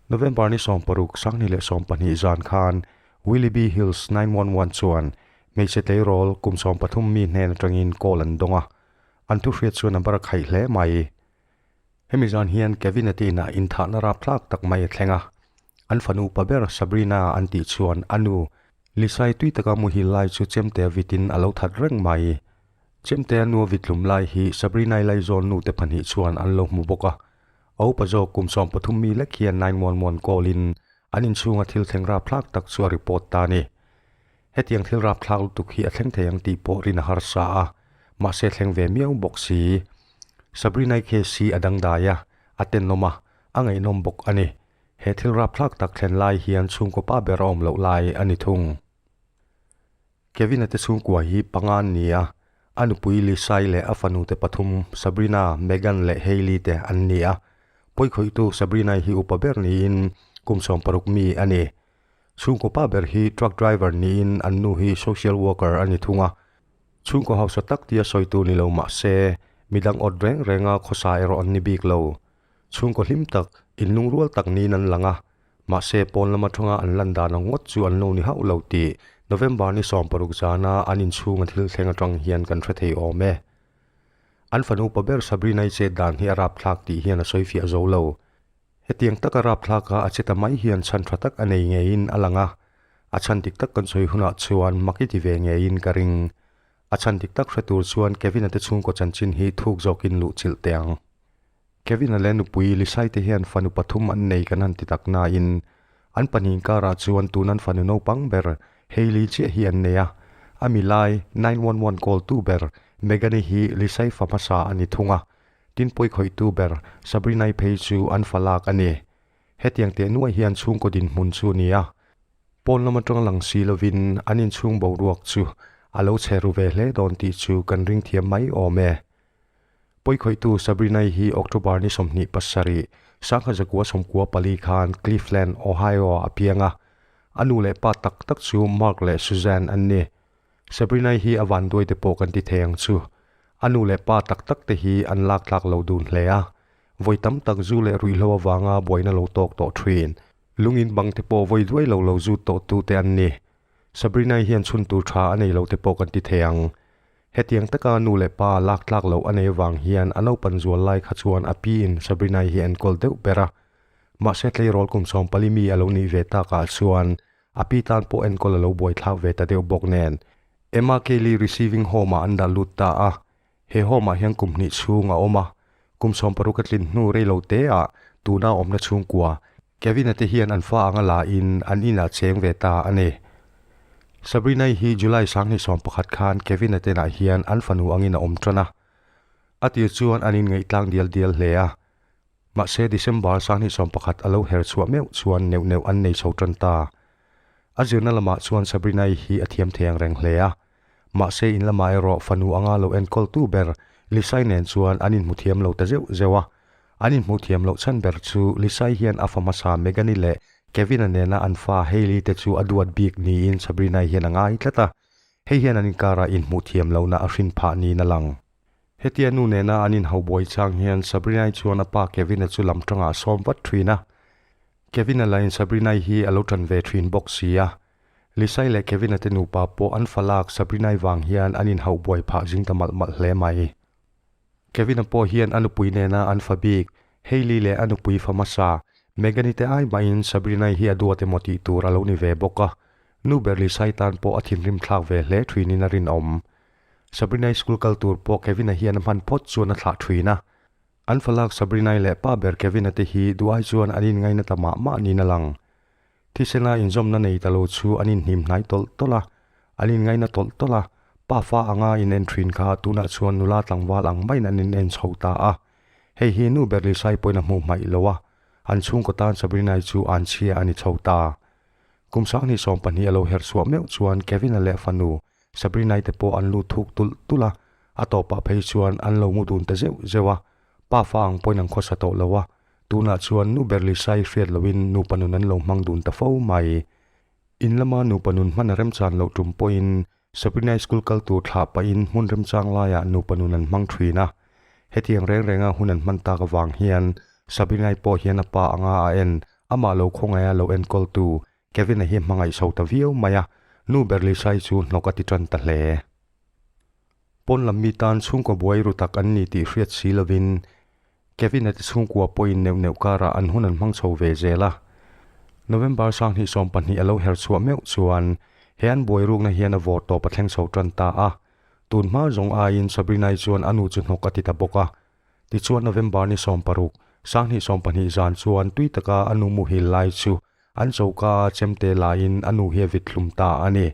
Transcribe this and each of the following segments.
November ni sawm paruk sang ni leh sawm pahnih zan khan Willoughby Hills nine one one chuan hmeichhe tleirawl kum sawm pathum mi hnen atangin call an dawng a, an thuhriat chuan a bara khaih hle mai. Hemi zan hian Kevin-a tihna inthahna rap tlak tak mai a thleng a. An fanu pa ber Sabrina an tih chuan a nu Lisa-i tui taka muhil lai chu Chemtea vitin a lo that reng mai i. Chemte a nua vit tlum lai hi Sabrina-i laizawn nute pahnih chuan an lo hmu bawk a. A upa zawk kum sawm pathum mi lek hian nai muan muan kawlin an inchhunga thil thleng rap tlak tak chu a report ta a ni. Hetiang thil rapthlak lutuk hi a thleng thei ang tih pawh Rin a harsa a, mahse thleng ve miau bawk si. Sabrina-i case hi a dangdai a, a tenawm a, a ngaihnawm bawk a ni. He thil rapthlak tak thlen lai hian chhungkawpa ber a awm loh lai a ni thung. Kevin-a te chhungkua hi panga an ni a, a nupui Lisa-i leh a fanute pathum Sabrina, Megan leh Hailey te an ni a. Pawikhawihtu Sabrina-i hi upa ber niin kum sawm paruk mi a ni. Chhungkaw pa ber hi truck driver niin an nu hi social worker a ni thung a. Chhungkaw hausa tak tia sawitu ni lo mah se, mi dang awt reng renga khawsa erawh an ni bik lo. Chhungkaw hlim tak, in lung rual tak niin an lang a. Mahse, pawn lam atanga an lan dan ang ngawt chu an lo ni hauh lo tih November ni sawm paruk zana an inchhunga thil thleng atang hian kan hre thei awm e. An fanu pa ber Sabrina-i chet dan hi a rapthlak tih hian a sawifiah zo lo. Hetiang taka rapthlak a a che ta mai hian chhan tha tak a nei ngeiin a lang a, a chhan dik tak kan sawi hunah chuan mak i ti ve ngeiin ka ring. A chhan dik tak hre tur chuan Kevin-a te chhungkaw chanchin hi thuk zawkin luh chilh teh ang. Kevin-a leh nupui Lisai te hian fanu pathum an nei kan han ti tak nain an pahnih karah chuan tunan fanu naupang ber Hailey chiah hi an nei a, a milai nine one one call-tu ber Megan-i hi Lisai fa hmasa a ni thung a, Tin pawikhawitu ber Sabrina-i phei chu an fa lak a ni. Hetiang teh nuai hian chhungkaw dinhmun chu ni a, pawn lam atang lang si lovin an inchhung boruak chu a lo chhe ru ve hle dawn tih chu kan ringthiam mai awm e. Pawikhawitu Sabrina-i hi October ni sawmhnih pasarih, sangha zakua sawmkua pali khan Cleveland, Ohio-ah a piang a. A nu leh pa tak tak chu Mark leh Suzanne an ni. Sabrina-i hi a vanduai te pawh kan ti thei ang chu. A nu leh pa tak tak te hi an lak tlak lo dun hle a. Vawi tam tak zu leh ruihhlo avanga buaina lo tawk tawh thin. Lungin bang te pawh vawi duai lo lo zut tawh tu te an ni. Sabrina-i hian chhun tur tha a nei lo te pawh kan ti thei ang. Hetiang taka a nu leh pa lak tlak loh a nei avang hian a naupan zual lai kha chuan a piin Sabrina-i hi a enkawl deuh ber a. Mahse tleirawl kum sawmpali mi a lo nih ve takah chuan A pi tan pawh enkawl a lo buaithlak ve ta deuh bawk nen, Emma Kelly Receiving Home-ah an dah lut ta a. He home-ah hian kum hnih chhung a awm a. Kum sawm paruk a tlin hnu rei lo teah tuna a awmna chhungkua Kevin-a te hian an fa anga lahin an inah cheng ve ta a ni. Sabrina-i hi July sanghnih sawm pakhat khan Kevin-a tenah hian an fanu angin a awm ṭan a. A tir chuan an inngaihtlang dial dial hle a. Mahse, December sangni sawm pakhat a lo her chhuah meuh chuan neuh neuh an nei chho tan ta. A zirna lamah chuan Sabrina-i hi a thiam thei ang reng hle a. Mahse, in lamah erawh fanu anga lo enkawltu ber Lisa-i nen chuan an inhmu thiam lo ta zeuh zeuh a. An inhmu thiam loh chhan ber chu Lisa-i hian a fa hmasa Megan-i leh Kevin-a nena an fa Hailey-te chu a duat bik niin Sabrina-i hian a ngai tlat a. Hei hian an inkara inhmu thiam lohna a hrin phah niin a lang. Hetia nu nena an inho buai chang hian Sabrina-i chuan a pa Kevin-a chu lam tangah a sawm vat thin a. Kevin-a lain Sabrina-i hi a lo tan ve thin bawk si a. Lisa-i leh Kevin-a te nupa pawh an fa lak Sabrina-i vang hian an inho buai phah zing ta malh malh hle mai. Kevin-a pawh hian a nupui nena an fa bik Hailey leh a nupui fa hmasa Megan-i te ai mahin Sabrina-i hi a duat emaw tih tur a lo ni ve bawk a. Nu ber Lisa-i tan pawh a thinrim thlak ve hle thinin a rinawm. Sabrina-i school kal tur pawh Kevin-a hian a hman phawt chuan a thlah ṭhin a. An falak Sabrina-i leh pa ber Kevin-a te hi duhai chuan an inngaina ta mah mah niin a lang. Thisena inzawmna nei ta lo chu an inhnim hnai tawlh tawlh a, an inngaina tawlh tawlh a, pa fa anga in en ṭhin kha tunah chuan nula tlangval ang maiin an in en chho ta a. Hei hi nu ber Lisa-i pawhin a hmuh hmaih lo a, an chhungkaw tan Sabrina-i chu an chhia a ni chho ta. Kum sang ni sawm pahnih a lo her suah meuh chuan Kevin-a leh fanu Sabrina-i te pawh an lut thuk tulh tulh a, a tawpah phei chuan an lo ngu dun ta zeuh zeuh a, Pa fa ang pawhin an khawsa tawh lo a, tunah chuan nu Berlisa-i hriat lohin nupa nun an lo hmang dun ta fo mai. In lama nupa nun hman a remchan loh tum pawhin Sabrina-i school kal tur thlah pahin hmun remchang laiah nupa nun an hmang thin a, hetiang reng renga hun an hman tak avang hian Sabrina-i pawh hian a pa anga a en, amah lo khawngaia lo enkawltu Kevin-a hi hmangaih so ta viau mai a, nu Berlisai chu hnawk a ti tan ta hle. Pawn lam mi tan chhungkaw buai ru tak an ni tih hriat si lovin, Kevin-a te chhungkua pawhin neuh neuh karah an hun an hmang chho ve zel a. November sang hnih sawm pahnih a lo her chhuah meuh chuan he an buai rukna hian a vawr tawp a thleng chho tan ta a. Tun hma zawng aiin Sabrina-i chuan a nu chu hnawk a ti ta bawk a. Tichuan November ni sawm paruk, Sanghnih sawm pahnih zan chuan tui taka a nu muhil lai chu an choka a chem te lahin a nu hi a vit thlum ta a ni.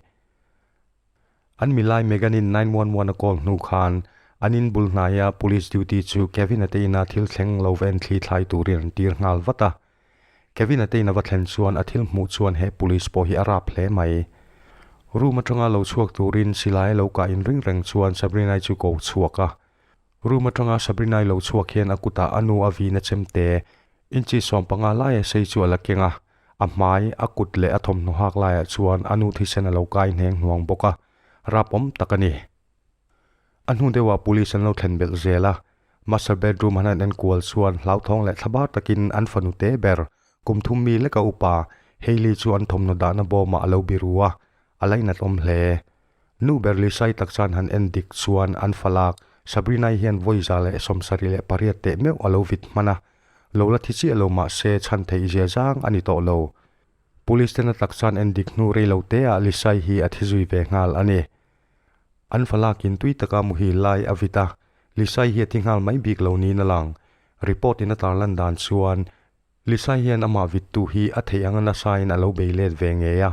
An milai Megan-in nine one one a call hnu khan an in bul hnaia police duty chu Kevin-ate ina thil thleng lo va enthlih thlai turin an tir nghal vat a. Kevin-ate ina va thlen chuan a thil hmuh chuan he police pawh hi a rap hle mai. Room atanga lo chhuak turin silai a lo kah in ring reng chuan Sabrina-i chu ko chhuak a. Room atanga Sabrina-i lo chhuak hian a kutah a nu a vin a chem te. Inchi sawm panga laia sei chu a la keng a, a hmai, a kut leh a thawmhnaw hak laiah chuan a nu thisen a lo kai hneng hnuang bawk a. Rapawm tak a ni. A hnu deuhah Police an lo thlen belh zel a. Master bedroom han han en kual chuan hlauthawng leh thlabar takin an fanu te ber. Kum thum mi leka upa Hailey chu an thawmhnaw dahna bawmah a lo biru a, a lainat awm hle. Nu Berli sai tak chuan han en dik chuan an fa lak. Sabrina-i hian vawiza leh sawmsarih leh pariat teh meuh a lo vit hman a, lo la thi chiah lo mah se chhan theih zia zang a ni tawh lo. Police te na tak chuan en dik hnu rei lo te ah Lisai hi a thi zui ve nghal a ni. An fa lak in tui taka muhil lai a vit a, Lisai hi a thi nghal mai bik lo niin a lang. Report in a tarlan dan chuan. Lisai hian amah vittu hi a theih anga nasain a lo bei let ve ngei a.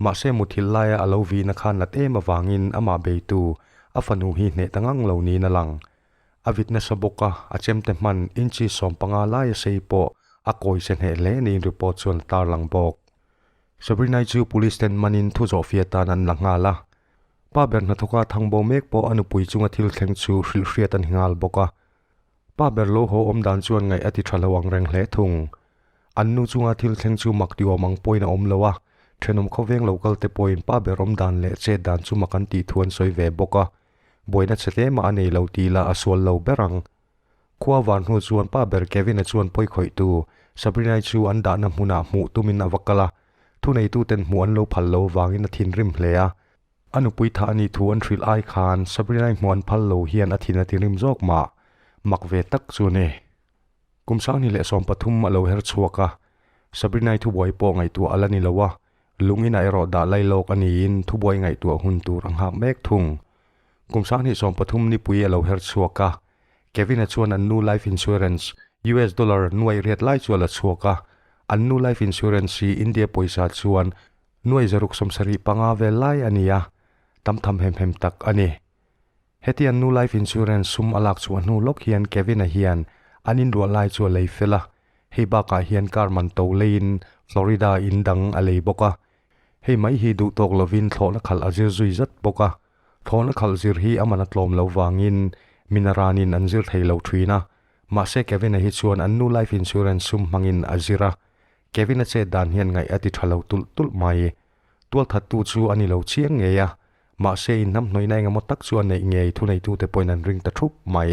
Mahse muthilh laia a lo vihna khan nat em avangin amah beitu a fanu hi hneh ta ngang lo niin a lang. A vit nasa bawk a, a chemte hman inchi sawm panga laia sei pawh a kawi che hneh hle niin report chuan a tarlang bawk. Sabrinai chu police ten manin thu zawh fiah tan an la nghal a. Pa ber hnathawka Thangbo mek pawh a nupui chunga thil thleng chu hrilh hriat a ni nghal bawk a. Pa ber lo haw awm dan chuan ngaih a ti tha lo ang reng hle thung. An nu chunga thil thleng chu mak diawm ang pawhin a awm lo a, thenawm khawveng lo kalte pawhin pa ber awm dan leh chet dan chu mak an tih thu an sawi ve bawk a. Buaina che tlem a a nei lo tih lah a sual lo ber ang. Khua van hnu chuan pa ber Kevin-a chuan pawi khawih tu Sabrina-i chu an dahna hmunah hmuh tumin a va kal a, thuneituten hmuh an lo phal lo vangin a thinrim hle a. A nupui tha a nih thu an hrilh ai khan Sabrina-i hmuh an phal lo hian a thin a ti rim zawk mah, mak ve tak chu a ni. Kum Sangni leh Sawm pathum a lo her chhuak a, Sabrina-i thubuai pawh ngaihtuah a la ni lo a, lunginah erawh dah lai lawk a niin thubuai ngaihtuah hun tur a nghak mek thung. Kum Sangni Sawm pathum nipui a lo her chhuak a, Kevin-a chuan an nu life insurance US dollar nuaih riat lai chu a la chhuak a, an nu life insurance hi India pawisa chuan Nuai zaruk sawm sarih panga vel lai a ni a, tam tham hem hem tak a ni. Heti an nu life insurance sum a lak chhuah hnu lawk hian Kevin-a hian an inruah lai chu a lei fel a, hei bakah hian car man to leiin Florida in dang a lei bawk a. Hei mai hi duh tawk lovin thlawhna khalh a zir zui zat bawk a, thlawhna khalh zir hi a man a tlawm lo vangin mina ranin an zir thei lo thin a, mahse Kevin-a hi chuan an nu life insurance sum hmangin a zir a, Kevin-a chet dan hian ngaih a ti tha lo tulh tulh mai. Tualthattu chu a ni lo chiang ngei a, mahse inham hnawihna engemaw tak chu a neih ngei thuneitute pawhin an ring ta thup mai.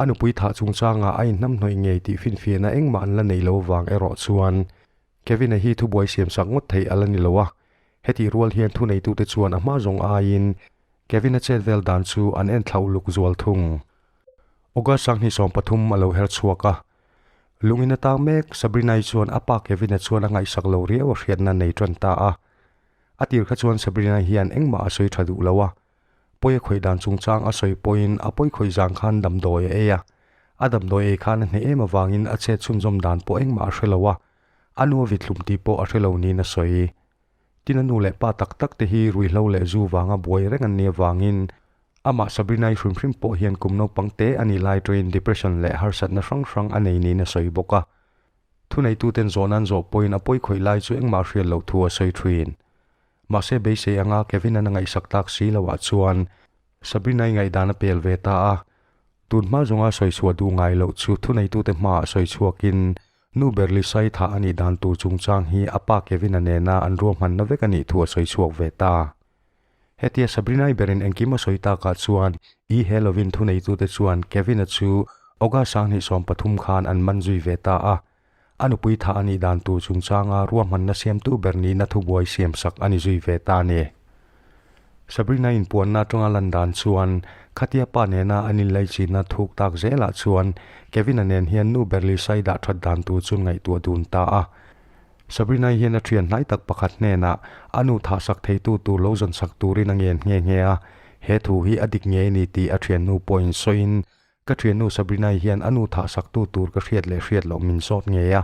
A nupui thah chungchanga a inham hnawih ngei tih finfiahna engmah an la neih lo vang erawh chuan Kevin-a hi thubuai siamsak ngawt theih a la ni lo a, hetih rual hian thuneitute chuan a hma zawng aiin Kevin-a chet vel dan chu an en thlauhluk zual thung. August sanghnih sawmpathum a lo her chhuak a, Lungin a tang mek Sabrina-i chuan a pa Kevin-a chuan a ngaihsak lo riau a hriatna a nei ṭan ta a. A tir kha chuan Sabrina hian engmah a sawi ṭha duh lo a. Pawi a khawih dan chungchang a sawi pawhin a pawi khawih zan khan damdawi a ei a. A damdawi ei khan a hne em avangin a chet chhunzawm dan pawh engmah a hre lo a. A nuavit hlum tih pawh a hre lo niin a sawi. Tin a nu leh pa tak tak te hi Ruihhlo leh Zu vanga buai reng an ni avangin amah Sabrina-i hrim hrim pawh hian kum naupang te a nih lai atangin depression leh harsatna hrang hrang a nei niin a sawi bawk a. Thuneituten zawh nan zawh pawhin a pawi khawih lai chu engmah hriat loh thu a sawi thin. Mahse beisei anga Kevin-an a ngaihsak tak si lohah chuan Sabrina-i ngaihdan a pel ve ta a. Tunhma zunga sawi chhuah duh ngai loh chu thuneitute hmaah sawi chhuakin Nu Berli Saitha a nih dan tur chungchang hi a pa Kevin-a nena an ruahmanna vek a nih thu a sawi chhuak ve ta. Hetia Sabrina-i berin engkim a sawi takah chuan i Halloween thuneitute chuan Kevin-a chu August a hnih sawm pathum khan an man zui ve ta a. A nupui tha a nih dan tur chungchanga ruahmanna siamtu ber nihna thubuai siamsak a ni zui ve ta ni. Sabrina inpuanna atanga lan dan chuan khatia pa nena an inlei chinna thuk tak zel ah chuan Kevina nen hian nu Berlisa-i dah that dan tur chu ngaihtuah dun ta a. Sabrina-i hian a thian hnai tak pakhat hnenah a nu thah sak theitu tur lo zawn sak turin a ngen nghe nghe a, he thu hi a dik ngei a ni tih a thiannu pawhin sawiin Ka thiannu Sabrina-i hian a nu thah saktu tur ka hriat leh hriat loh min sawt ngei a.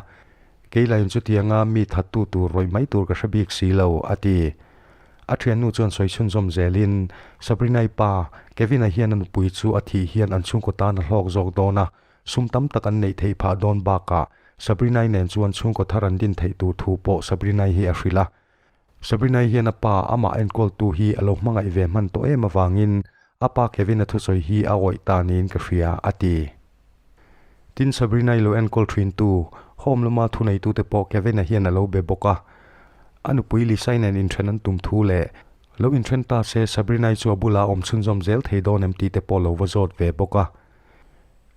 Kei lahin chutianga mi thattu tur rawih mai tur ka hre bik si lo, a ti. A thiannu chuan sawi chhunzawm zelin, Sabrina-i pa, Kevin-a hian a nupui chu a thih hian an chhungkaw tan a hlawk zawk dawn a, sum tam tak an neih theih phah dawn bakah Sabrina-i nen chuan chhungkaw thar an din theih tur thu pawh Sabrina-i hi a hrilh a. Sabrina-i hian a pa amah enkawltu hi a lo hmangaih ve hman tawh em avangin a pa Kevin-a thusawi hi a awih ta niin ka hria, a ti. Tin, Sabrina-i lo enkawl thintu home lama thuneitute pawh Kevin-a hian a lo be bawk a. A nupui Lisa-in in then an tum thu leh lo in then ta se Sabrina-i chu a bulah awm chhunzawm zel thei dawn em tite pawh lo va zawt ve bawk a.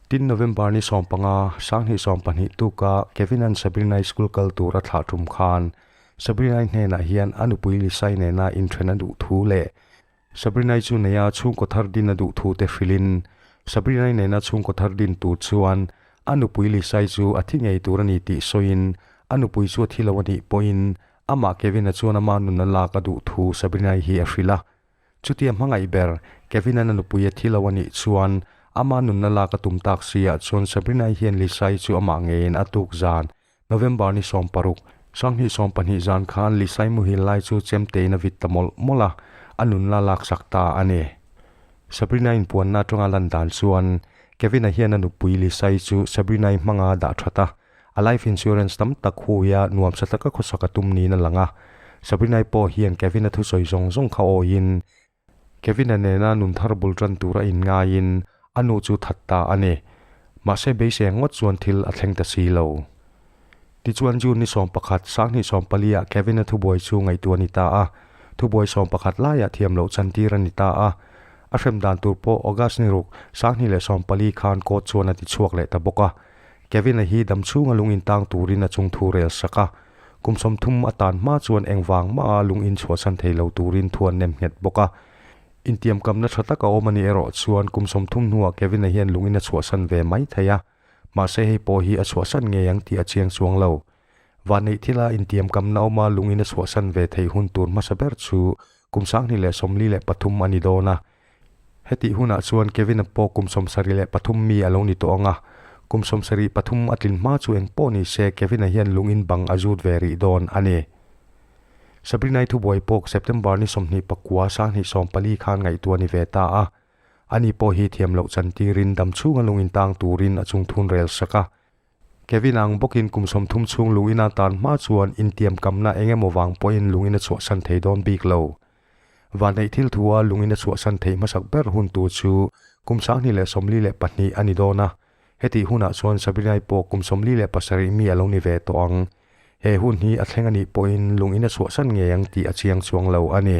Tin, November ni sawmpanga, Sanghnih sawmpahnih tuka Kevin-a'n Sabrina-i school kal tura thlah tum khan Sabrinai hnenah hian a nupui Lisai nena inṭhen a duh thu leh Sabrinai chu neia chhungkaw thar din a duh thute hrilhin, Sabrinai nena chhungkaw thar din tur chuan a nupui Lisai chu a thi ngei tur a ni tih sawiin a nupui chu a thi lo a nih pawhin amah Kevin-a chuan ama nun a lak a duh thu Sabrinai hi a hrilh a. Chutia hmangaih ber, Kevin-an a nupui a thi lo a nih chuan ama nun a lak a tum tak si ah chuan Sabrinai hian Lisai chu amah ngeiin a tuk zan November ni sawm paruk, Sanghnih sawm pahnih zan khan Li Saimuhil lai chu chemtein a vit ta mawlh mawlh a, a nunla laksak ta a ni. Sabrina inpuanna atanga lan dan chuan Kevina hian a nupui Li Sai chu Sabrina-i hmanga dah that a, a life insurance tam tak hui a nuam sa taka khawsak a tum niin a lang a. Sabrina-i pawh hian Kevina thusawi zawng zawng kha awiin Kevin-a nena nun thar bul tan tura in ngaiin a nu chu that ta a ni. Mahse beiseng ngawt chuan thil a thleng ta si lo. Tichuan June ni sawm pakhat, Sanghnih sawm paliah Kevin-a thubuai chu ngaihtuah a ni ta a. Thubuai sawm pakhat laiah thiam loh chantir a ni ta a. A hrem dan tur pawh August ni ruk, Sanghnih leh sawm pali khan court chuan a tichhuak leh ta bawk a. Kevin-a hi dam chhunga lungin tang turin a chung thu rel sak a, kum sawmthum a tan hma chuan engvang hmaa lungin chhuahsan thei lo turin thu an nem nghet bawk a. Intiamkamna tha tak a awm a nih erawh chuan kum sawmthum hnuah Kevin-a hian lungin a chhuahsan ve mai thei a, mahse hei pawh hi a chhuahsan ngei ang tih a chiang chuang lo. Vanneih thila intiamkamna awma lungin a chhuahsan ve thei hun tur hmasa ber chu kum sanghnih leh sawmli leh pathum a ni dawn a. Hetih hunah chuan Kevin-a pawh kum sawmsarih leh pathum mi a lo ni tawh ang a. Kum sawmsarih pathum a tlin hma chu engpawh ni se Kevin-a hian lungin bang a zut ve rih dawn a ni. Sabrina-i thubuai pawk September ni sawmhnih pakua sanghnih sawm pali khan ngaihtuah ni ve ta a. Ani pawh hi thiam loh chantirin dam chhunga lungin tang turin a chungthun rel sak a. Kevin ang bawkin kum sawmthum chhung lungin a tan hma chuan intiam kamna eng emaw vang pawhin lungin a chhuahsan thei dawn bik lo. Vanneih thilthu a lungin a chhuahsan thei hmasak ber hun tur chu kum sangni leh sawmli leh pahnih a ni dawn a, hetih hunah chuan Sabrina-i pawh kum sawmli leh pasarih mi a lo ni ve tawh ang. He hun hi a thleng a nih pawhin lungin a chhuahsan ngei ang tih a chiang chuang lo a ni.